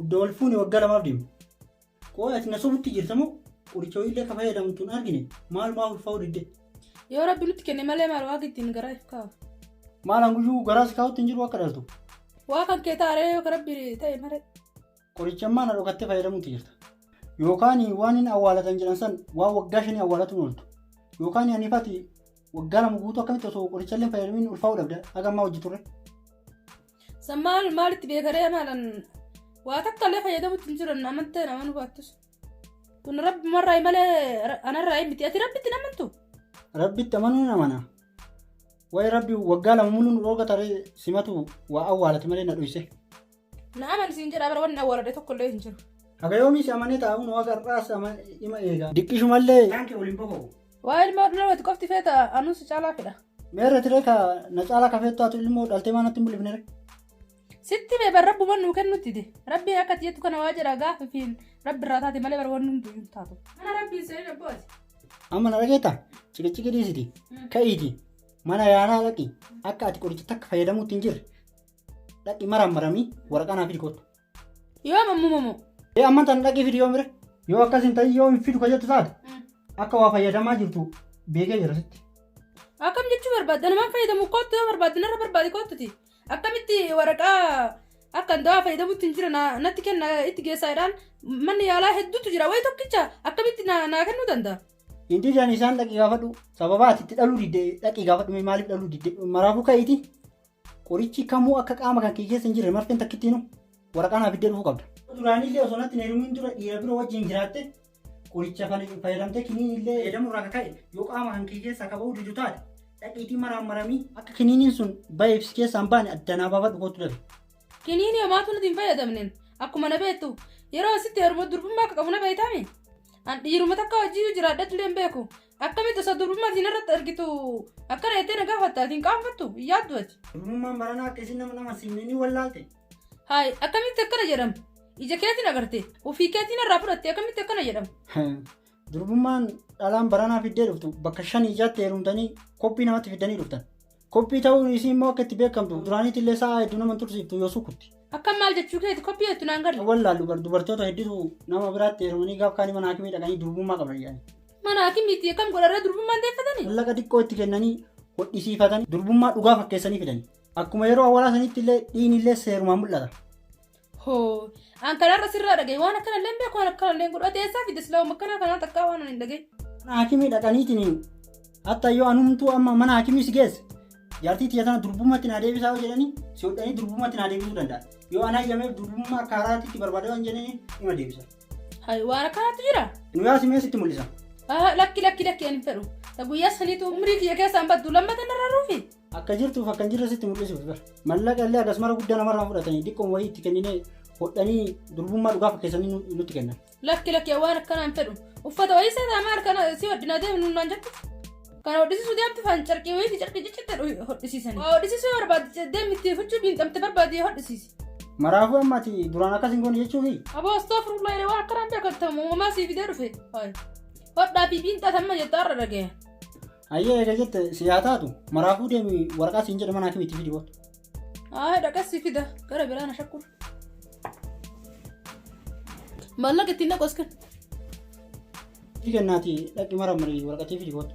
Udda wal fuune waggaa lamaaf deema. Qoy ati na sobutti jirta moo qoricha wayiillee ka fayyadamtu hin argine maalumaa ulfaa'uu didde. Yoo rabbi nutti kenne malee maal waaqa ittiin garaa if kaa'u. Maalaan guyyuu garaa si kaa'utti hin jiru akka dhaltu. Waa kan kee taaree yoo ka rabbi ta'e malee. Qoricha ammaa na dhokattee fayyadamutti jirta. Yookaan waan hin awwaalatan jedhan san waan waggaa shanii awwaalatuun ooltu. Yookaan ani fati waggaa lama guutuu akkamitti osoo qorichallee hin fayyadamin ulfaa'uu dhabda haga ammaa hojii turre. San maal maalitti beekaree maalan waa takka illee fayyadamutti hin jiran amantee naman hubattus. Kun rabbumarraa malee ra- anarraa hin miti. Ati rabbitti hin amantu. Rabbitti amanuu hin amana. Waa'ee rabbi waggaa lama muluu nu dhooga taree simatu waa awwaalati malee na dhuyse. Na amani siin jedhaa bara wanni awwaaladhe tokko illee hin jiru. Haga yoomiis amanee taa'uun waaqa har'aas ama- ima eega. Diqqishumallee. Waa'ee ilma dhulaa wati qofti feeta anuu si caalaa fedha. Meerre tiree ka na caalaa kafee taatu ilmoo dhaltee maa natti hin bulifnere. Sitti mee bar rabbuma nuu kennutti de. Rabbiin akka ati jettu kana waa jedha gaafa fi rabbi irraa taate malee bar waan hundi hin taatu. Mana rabbiin seenin abboo ati. Amma na dhageetta ciqiciqi dhiisiti ka'iiti mana yaalaa dhaqi akka ati qoricha takka fayyadamuutti hin jirre dhaqi marammaramii waraqaa naaf hidhi kottu. Yoo mammumo moo. Ee amma tan dhaqii fidi yoo mire. Yoo akkas hin ta'in yoo hin fidu ka jettu taate akka waa fayyadamaa jirtu beekee jira sitti. Akkam jechuu barbaadda namaan fayyadamu koottu yoo barbaadde narra barbaadi koottuti. Akkamitti waraqaa akkan dawaa fayyadamutti hin jira na- natti kenna itti geessaa jedhaan manni yaalaa hedduutu jira wayi tokkicha akkamitti na- naa kennuu danda'a. Hin didan isaan dhaqii gaafadhu. Sababaa ati itti dhaluu didde dhaqii gaafadhu mee maaliif dhaluu didde maraafuu ka'iiti Qorichi kamuu akka qaama kan kee keessa hin jirre marfeen takkittiinu waraqaa naa fiddee dhufuu qabda. Duraanillee osoo natti hin heerumin dura dhiira biroo wajjin jiraatte qoricha fana fayyadamtee kiniinillee fayyadamuu irraa ka'e yoo qaama kan kee keessaa ka ba'uu didu taate dhaqiitii maraan maramii akka kiniiniin sun ba'eef si keessaa hin baane adda naa baafadhu kootu dabe. Kiniinii homaatu nuti hin fayyadamneen akkuma na beektu yeroo asitti heeruma durbummaa akka qabu na beektaami. An dhiiruma takka wajjin jiraadhadhullee hin beeku. Akkamitti osoo durbummaa siin irratti argitu akkana jettee na gaafatta ati hin qaanfattu hin yaaddu ati. Durbummaan baranaa akka isin nama nama siimne ni wallaalte. Haay akkamitti akkana jedhama. Ija keetiin agarte ofii keetiin irraa fudhatte akkamitti akkana jedhama. Durbummaan dhalaan baranaa fiddee dhuftu bakka shanii jaatti heerumtanii koppii namatti fiddanii dhuftan. Koppii ta'uun isii immoo akka itti beekamtu duraaniitti illee sa'a hedduu nama hin tursiiftu yoo sukutti. Akkam maal jechuu keeti koppii jettu naan galle. Wallaallu bar dubartoota hedduutu nama biraatti heerumanii gaaf kaanii mana haakimii dhaqanii durbummaa qaban jedhani. Mana haakimiitti akkam godharra durbummaan deeffatanii? Mallaqa xiqqoo itti kennanii hodhisiifatanii durbummaa dhugaa fakkeessanii fidani. Akkuma yeroo awwalaa saniitti illee dhiigni illee seerumaan mul'ata. Hoo, an kanarra sirraa dhagaye waan akkana illee hin beeku waan akkana illee hin godhu. Ati eessaa fidde silaa waan akkanaa kanaa takkaa waan ani hin dhagaye. Mana haakimii dhaqaniitiin hatta yoo anumtuu amma mana haakimii si geesse jaartii tiyya tana durbummaatti naa deebisaa yoo jedhanii si hodhanii durbummaatti naa deebisuu danda'a. Yoo an hayyameef durbummaa akka haaraatti itti barbaada waan jedhanii ima deebisa. Hay waan akkanaatu jira. Nu yaa simee sitti mul'isa. Ah, lakki lakki lakki ani hin fedhu. Ta guyyaa saniitu umrii kiyya keessaan baddu lammata narra ruufi. Akka jirtuuf akka hin jirre sitti mul'isuuf bar. Mallaqa illee akkasumara guddaa namarraa fudhatanii xiqqoon wayii itti kenninee hodhanii durbummaa dhugaa fakkeessanii nu- nutti kennan. Lakki lakki waan akkanaa hin fedhu. Uffata wayii isaa ta'a maal kana si hodhinaa deemnu naan jette. Kana hodhisiisuu deemti faan carqii wayii fi carqii ciccitti hodhisiisani. Waa hodhisiisuu yoo barbaadde deemi itti fuchuu biinxamte barbaadde yoo hodhisiisi. Maraafuu amma ati duraan akkas hin goone jechuufi Aboo astoofurullaa jedhee waan akkanaan beekamtamu uumamaa sii fidee dhufe. Hodhaa fi biinxaa tamma jettu har'a dhaga'e. Hayyee eega jette si haa taatu maraafuu deemi waraqaa siin jedhe manaa kamitti fidi booda. Haa dhaqassi fida gara biraa na shakkuu. Maallaqa ittiin dhaqu as kenna. Iti kennaati dhaqi mara marii waraqatii fidi booda.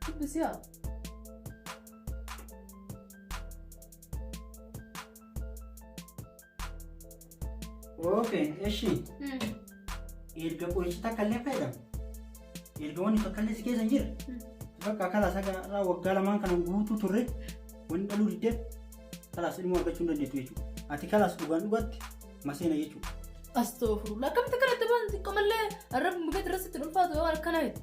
Dubbisiya. Okay, eshi. Erga qorichi takka illee fayyadamu. Erga wanni takka illee si keessa hin jirre. Bakka kalaas akka irraa waggaa lamaan kana guutuu turre wanni dhaluu diddeef kalaas ilmoo argachuu hin dandeettu jechuudha. Ati kalaas dhugaan dhugaatti maseena jechuudha. Astoofurulla akkamitti kanatti waan xiqqoomallee arrabni mukeetti irratti itti ulfaatu yoo akkana jetti.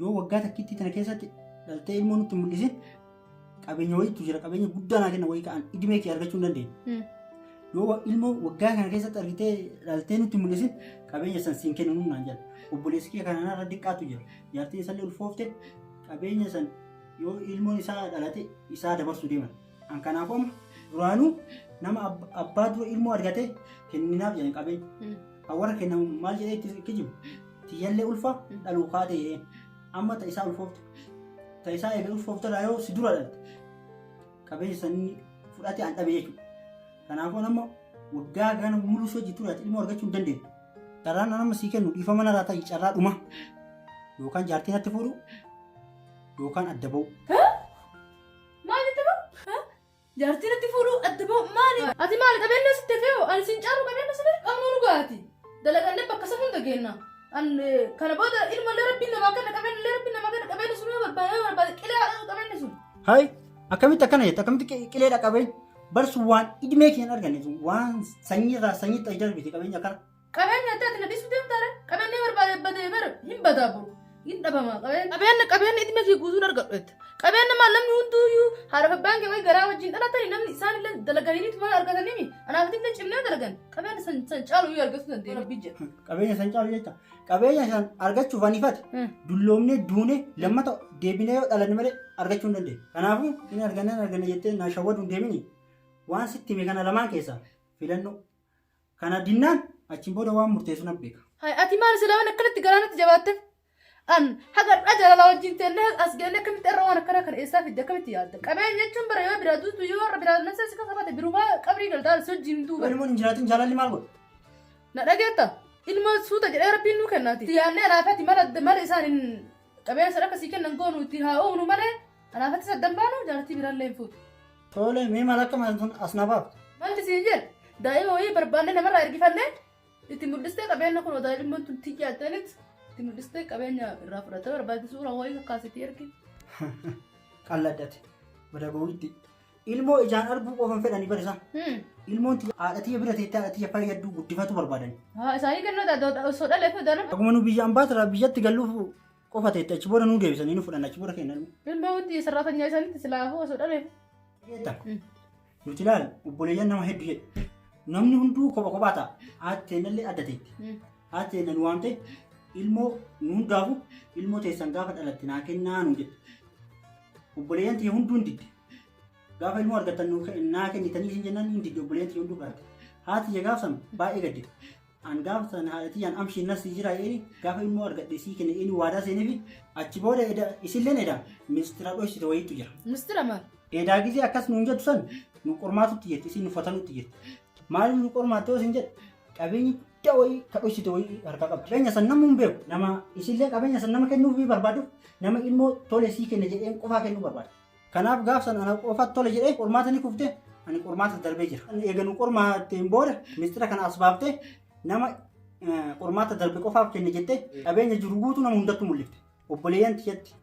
Yoo waggaa takkittii tana keessatti dhaltee ilmoo nutti hin mul'isin qabeenya wayiitu jira qabeenya guddaa naa kenna wayii ka'an idimee kee argachuu hin dandeenye. Mm. Yoo wa- ilmoo waggaa kana keessatti argitee dhaltee nutti hin mul'isin qabeenya san siin kennu naan jedha. Obboleessi kee kanaan irra diqqaatu jira. Jaartiin isallee ulfoofte qabeenya san yoo ilmoon isaa dhalate isaa dabarsuu deeman. An kanaafuu amma duraanuu nama ab- abbaa dura ilmoo argate kenninaaf jedhan qabeenya. Mm. Kan warra kennamu maal jedhee itti kijibu? Tiyyallee ulfaa Mm. dhaluu kaatee jedhee. Amma ta isaa ulfoofte. Ta isaa eegee ulfoofte irraa yoo si dura dhalte. Qabeenya sanii fudhatee an dhabe jechuudha. Kanaafuu an amma waggaa gana muluu si hojii ture ati ilmoo argachuu hin dandeenye. Carraan an amma sii kennu dhiifama narraa ta'i carraa dhuma. Yookaan jaartii natti fuudhu yookaan adda ba'u. Maal itti bahu? Jaartiin itti fuudhuu adda bahu maali? Ati maali qabeenya sitti fe'u? Ani siin caalu qabeenya sitti qabnu dhugaati. Dalagannee bakka safuun dhageenya. Kana booda ilma illee rabbiin namaa kenna qabeenya illee rabbiin namaa kenna qabeenya sun yoo barbaade yoo barbaade qilee haadha qabeenya sun. Hay akkamitti akkana jette akkamitti qi- qilee dhaqabee barsu waan idmee kee hin arganne sun waan sanyiirraa sanyiitti ayi darbite qabeenya akkana. Qabeenya addee ati na dhiisuu deemta ree? Qabeenya barbaade badee bara hin badaa boru. Hin dhabama qabeenya. Qabeenya qabeenya idime kee guutuun argadhu jette. Qabeenya maal namni hunduuyyuu haadha fi abbaan kee wayii garaa wajjin dhalatanii namni isaan illee dalaganiitu tuma argatanii mi? Anaaf illee cimnee dalagan. Qabeenya san san caalu iyyuu argachuu dandeenya. Rabbi jedha. Qabeenya san caalu jecha. Qabeenya san argachuuf anifate. Hmm. Dulloomnee duunee lammata deebinee yoo dhalanne malee argachuu hin dandeenye. Kanaafuu hin arganne hin arganne jettee na shawwaduun deemini. Waan sitti hime kana lamaan keessaa filannoo Kana dinnaan achiin booda waan murteessu nan beeka. Hay, ati maal silaa waan akkanatti garaa natti jabaatte? An haga har'aa jaalala wajjin teennee as geennee akkamitti irra waan akkanaa kana eessaa fidde akkamitti yaadda? Qabeenya jechuun bara yoo biraa duutu yoo warra biraa nafsa si kakafate birumaa qabrii galtaa si wajjin hin duuban. Ilmoon hin jiraatin jaalalli maal godha? Na dhageetta? Ilmoo suuta jedhee rabbiin nuu kennaati. Itti yaadnee laafati mala mala isaan hin Qabeenya sana akka sii kennan goonu itti haa uumnu malee kanaaf atti saddan baanu jaartii biraallee hin fuutu. Tole mee maal akka maal sun as na baafta. Maalti siin jedhe daa'ima wayii barbaannee namarraa ergifannee itti mul'istee qabeenya kun daa'imman tun tiyyaa ta'anitti itti mul'istee qabeenya irraa fudhatee barbaadde suuraa wayii kakkaasitii ergi. Qalladdate. Bada gowwitti. Ilmoo ijaan arguu qofan fedhani bar isaan. Hmm. Ilmoon tiyya haadha tiyya bira teettee haadha tiyya fayyaddu guddifatu barbaadani. Haa isaanii kennoota osoo dhalee fi doona. Akkuma nu biyyaan baatira biyyatti galluuf qofa teette achi booda nu deebisanii nu fudhan achi booda kennan. Ilmoo wanti sarraatanya isaaniitti silaafuu osoo dhalee. Beekta? Hmm. Nuti ilaal obboleeyyan nama hedduu jedhe. Namni hunduu kopha kophaa ta'a. Haati teennallee adda teetti. Hmm. Haati teenna nu waamte ilmoo nu hundaafu ilmoo teessan gaafa dhalatte naa kennaa nu jedhe. Obboleeyyan tiyya hunduu hin didde. Gaafa ilmoo argattan nuu ke- naa kennitanii isin jennaan hin didde obboleeyyan tiyya hunduu barate. Haati tiyya gaaf san baay'ee gaddite. An gaafa san haadha tiyyaan amshii nas sii jira eeni gaafa ilmoo argadhe sii kenne eeni waadaa seeneefi achi booda eda isilleen eda mistira dhoysite wayiitu jira. Mistira maal? Edaa gisee akkas nuun jettu san nu qormaatutti jirti isin nu fatanutti jirti. Maaliif nu qormaatte yoo sin jedhe qabeenyi guddaa wayii ka dhoksite wayii harkaa qabdi. Qabeenya san namuu hin beeku. Nama isillee qabeenya san nama kennuufii barbaaduuf nama ilmoo tole sii kenne jedheen qofaa kennuu barbaada. Kanaaf gaaf san ana qofa tole jedhee qormaata ni kufte ani qormaata darbee jira. Eega nu qormaatteen booda mistira kana as baaftee nama qormaata darbe qofaaf kenne jettee qabeenya jiru guutuu nama hundattuu mul'ifte. Obboleeyyan tiyyatti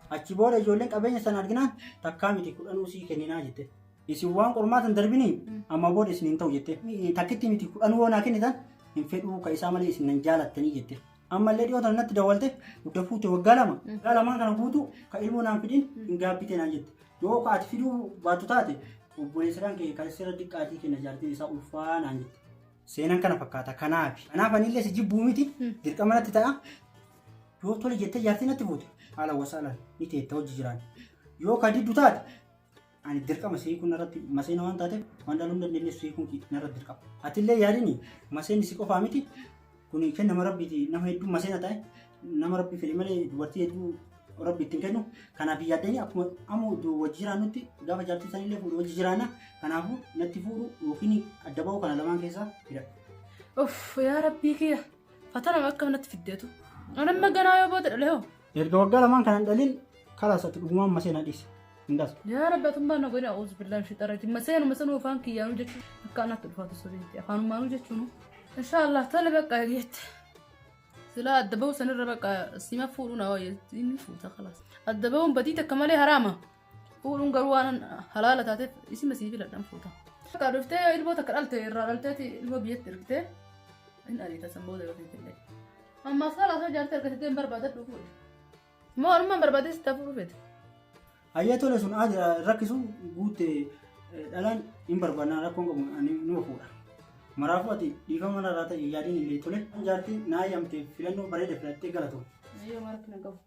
achi booda ijoolleen qabeenya sana arginaan takkaa miti kudhanuu sii kenninaa jette. Isin waan qormaata hin darbinii amma booda isin hin ta'u jette. Takkitti miti kudhanuu yoo naa kennitan hin fedhuu ka isaa malee isin nan jaalattanii jette. Ammallee dhiyoo tana natti dawwalte gudda fuute waggaa lama. Waggaa lamaan kana guutuu ka ilmoo naan fidin hin gaabbite naan jette. Yoo ka ati fiduu baattu taate obboleessiraan kee kan sirra diqqaatii kenna jaartiin isaa ulfaa naan jette. Seenaan kana fakkaata kanaafi. Kanaaf anillee si jibbuu miti dirqama natti ta'a. Yoo tole jettee jaartii natti fuute haala wasaalaan ni teetta hojii jiraan. Yoo ka diddu taate ani dirqama sii kun irratti maseena waan taateef waan dhaluu hin dandeenye sii kun narra dirqama. Atillee yaadini maseenni si qofaa miti kun kennama rabbiiti nama hedduu maseena ta'e nama rabbi fedhe malee dubartii hedduu rabbi ittiin kennu kanaaf hin yaaddanii akkuma ammoo du- wajji jiraannutti gaafa jaartii sanillee fuudhu wajji jiraanna kanaafuu natti fuudhu yookiin adda ba'uu kana lamaan keessaa filadhu. Uff yaa rabbii kiyya. Fatanaan akka manatti fiddeetu. Anamma ganaa yoo booda dhalee hoo. Erga waggaa lamaan kanan dhalin kalaas ati dhugumaan masee na dhiise. Hin dhasu. Yaa rabbi atummaa na godhina uus billaan shi xarati. Maseen maseen ufaan kiyyaanuu jechuun akka anatti ulfaatu sobeetti. Afaanumaanuu jechuun. Inshaallah tole bakka eegeetti. Silaa adda bahu sanirra bakka sima fuudhuu na wayya inni fuuta kalaas. Adda bahuun badii takka malee haraama. Fuudhuun garuu waan halaala taateef isima sii filadhan fuuta. Akka dhuftee ilmoo takka dhalte irraa dhalteeti ilmoo biyyatti ergitee hin ariita san booda yoo fiitillee. Amma saala osoo jaartee argatee hin barbaadadhu fuudhe. Moo armaan barbaadee sitti hafuuf feete. Hayyee tole sun haa jira rakkisu guutte dhalaan hin barbaadna rakkoon qabu ani numa fuudha. Maraafuu ati dhiifama narraa ta'e yaadiin illee tole. Jaartiin naa yaamte filannoo bareeda filattee galatoom. Yoo maratti na gahu.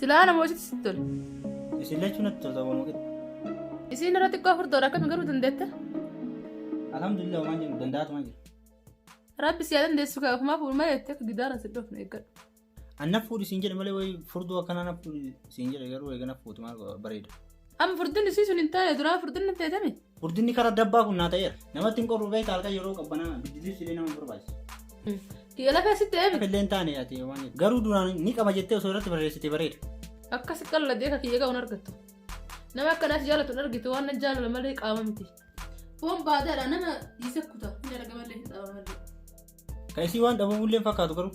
Silaa ana moositti sitti tole. Isin lachuu natti tolta waan muqetti. Isiin irra xiqqoo furdoodha akkami garuu dandeetta. Alhamdulillah waan jedhu danda'atu waan jedhu. Rabbi siyaa dandeessu kaa ofumaa fuudhu malee itti akka gidaara si dhofne eeggadhu. Anna fuudhi siin jedhe malee wayi furdoo akkanaa na fuudhi siin jedhe garuu eega na fuuti maal godha bareeda. Amma furdinni sii sun hin taane duraa furdinni hin teetame. Furdinni karaa dabbaa kun naa ta'eera. Namatti hin qorru beekta halkan yeroo qabbanaa biddilibsi illee nama barbaachisa. Kiyya lafee sitti eemi. Akka illee hin taane ati waan jettu. Garuu duraan ni qaba jettee osoo irratti barreessite bareeda. Akkas qalladee akka kiyya ga'u hin argattu. Nama akka naas jaalatu hin argitu waan nan jaalala malee qaama miti. Foon baadaadha nama dhiise kuta hin arga malee hin dhaaba malee. Kan isii waan dhabamullee hin fakkaatu garuu.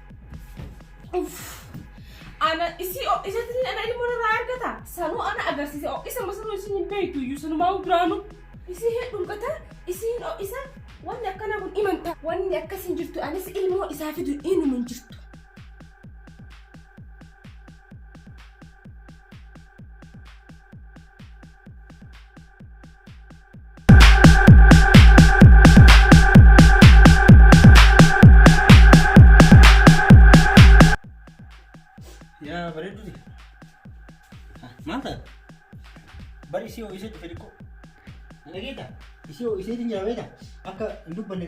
Ana isii ho'isatti ana ilmoo irraa argata. Sanuu ana agarsiise ho'isa masanuu isin hin beektu iyyuu sanumaa duraanu. Isii hedduun gata isiin ho'isa wanni akkana kun imanta. Wanni akkas hin jirtu anis ilmoo isaa fidu inuma hin jirtu. Yaa bareedu ti. Maal ta'a? Bari isii ho'isee dhufe xiqqoo. Dhageeta? Isii ho'isee ti nyaamee ta'a. Akka hin dubbanne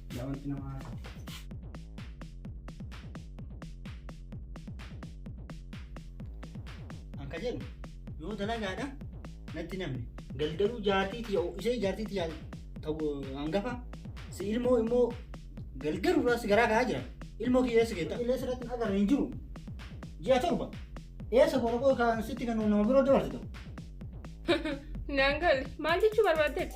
Yaa wanti nama haasa'u. Akka jedhu yoo dalagaadha natti namni galgaluu jaartiiti yoo ishee jaartiiti yaa ta'u hangafa si ilmoo immoo galgaluu irraa si garaa ka'aa jira ilmoo kiyya eessa keetta illee sirratti hin agarre hin jiru ji'a torba eessa qoraqoo kan sitti kan nama biroo dabarsitu Naan galle maal jechuu barbaaddeeti?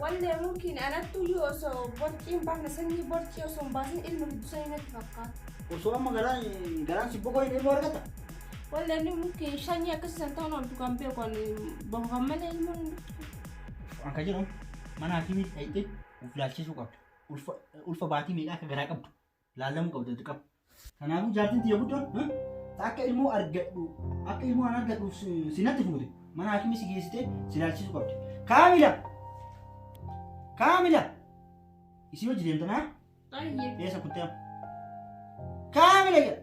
Wallee murkiin anattuu iyyuu osoo borciin baafna sanyii borcii osoo hin baasin ilma giddu sanii natti fakkaata. Osoo amma garaan garaan si boqoleen ilmoo argata. Wallee inni murkiin shanyii akkasii san ta'uun ooltu kan beeku kan boqofan malee ilmoo hin jirtu. Waan kan jedhamu mana hakiimiitti dhayxee of ilaalchisuu qabda. Ulfa ulfa baatii meeqa akka garaa qabdu laallamuu qabda dirqama. Kanaafuu jaartiin tiyya guddoon "Hah? ta akka ilmoo argadhu akka ilmoo an argadhuuf si- si natti fuute mana haakimii si geessitee si ilaalchisuu qabdi. Kaamila! Kaamila! Isii hojii deemtanaa? Ayyee. Eessa kuttee amma? Kaamila jedha!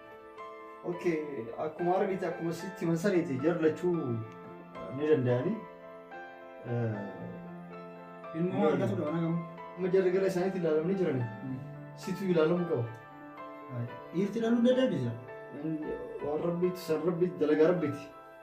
Okay, akkuma argite akkuma sitti masaniiti jarlachuu ni danda'anii. Ilmoo Yoo argatu dha mana gamu. Amma jarri gara isaaniitti ilaalamanii jiran situ ilaalamuu qaba. Dhiirti dhaluu dadhabde jira. Waan rabbiitti san rabbiitti dalagaa rabbiitti.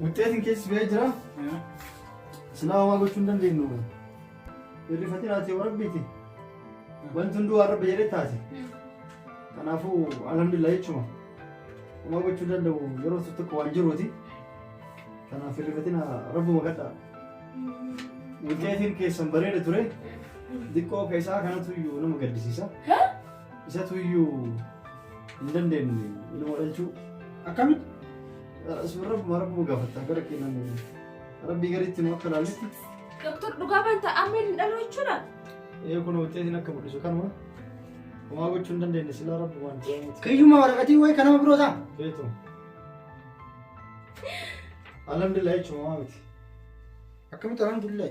Wuxxeetiin keessi ba'ee jira. Silaa homaa gochuu hin dandeenyu. Hirrifatiin haati yoo rabbiiti. Wanti hunduu waan rabbi jedhee taate. Kanaafuu alhamdulillah jechuudha. Homaa gochuu hin danda'u yeroo tokko tokko waan jiruuti. Kanaaf hirrifatiin rabbuma kadhaa. Wuxxeetiin keessan bareeda ture. Diqqoo keessaa kanatu iyyuu nama gaddisiisa. Isatu iyyuu hin dandeenye ilma dhalchuu. Akkamitti? Sun rabbuma rabbuma gaafatta gara keenan rabbii gariitti nu akka laalletti. Doktor dhugaa banta amma hin dhalu jechuudha. Ee kun wuxeetiin akka mul'isu kanuma. Homaa gochuu hin dandeenye silaa rabbumaan jiraamuuti. Kayyummaa waraqatii wayi kanama biroo ta'a. Feetu. Alhamdulillah jechuun homaa miti. Akkamitti alhamdulillah.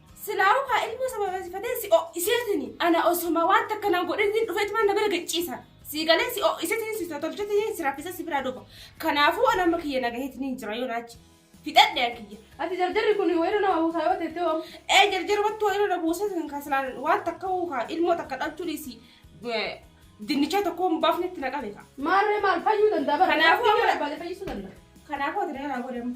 Silaahuu kaa ilmoo sababeessifatee si ho'iseetini. Ana osoma waan takka nan godhinni dhufeetuma na bira gacciisa. Sii galee si ho'iseetini si totolchetini si raffisa si biraa dhufa. Kanaafuu ana amma kiyya na gaheetini jira yoo naachi. Fixadhe an kiyya. Ati jarjarri kun wayirra nama buusaa yoo teettee wamu. Ee jarjarri wattu wayirra na buusa sin kan silaan waan takka huu kaa ilmoo takka dhalchuu dhiisi. Dinnichaa tokko hin baafne itti na qabe kaa. Maarree maal fayyuu danda'a bara. Kanaafuu amma- Barbaade fayyisuu danda'a. Kanaafuu ati na jalaa godhamu.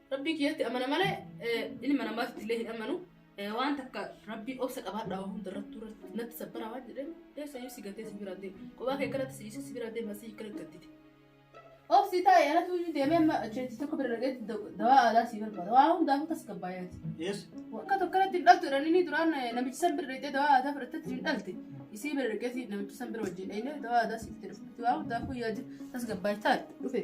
Rabbii kiyyatti amana malee ilma namaatti illee hin amanu. Waan takka rabbii obsa qabaadhaa waan hunda irratti irratti natti sabbara waan jedheen eessayyuu si gatee si bira deema. Qophaa kee kanatti si dhiisee si bira deema si hiikkana gattite. Obsi taa'e anatu iyyuu deemee amma achitti tokko bira dhageetti dawaa aadaa si barbaada. Waa hundaafuu tasgabbaa'eeti. Eessa? Akka tokko kanatti hin dhaltu jedhanii ni duraan namichi san bira dhaqxee dawaa aadaa fudhattetti hin dhalte. Isii bira dhaqeeti namichi san bira wajjin dhaqnee dawaa aadaa siif jedhe fudhatti waa hundaafuu yaadi tasgabbaa'e taa'e dhufe.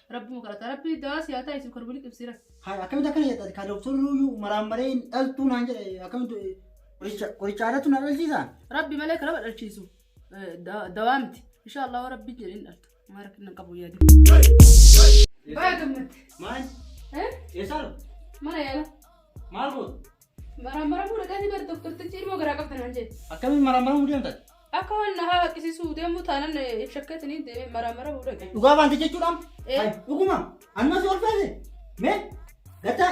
Rabbi makarata rabbi daa siyaa taa isu karbuli qibsira. Haa akkamitti akkana jedha ka doktorri iyyuu maraan maree hin dhaltuu naan jedhe akkamitti qoricha qoricha aadatu na dhalchiisa. Rabbi malee karaba dhalchiisu dawaa miti. Insha Allah rabbi jedhe hin dhaltu. Maa rakkin nan qabu yaadi. Baay'ee gammatti. Maal? Eh? Eessaadha? Mana yaala. Maal goota? Maraammaramuu dhaqanii bar doktortichi ilmoo garaa qabda naan jedhe. Akkamiin maraammaramuu deemtan? Akka waan na haa haqqisiisuu deemuu taanan eh, shakkatanii deemee maraammaramuu dhaqe. Dhugaa baante jechuudhaan? Eh. Ay, Dhuguma. Annas ol feese. Mee? Gataa.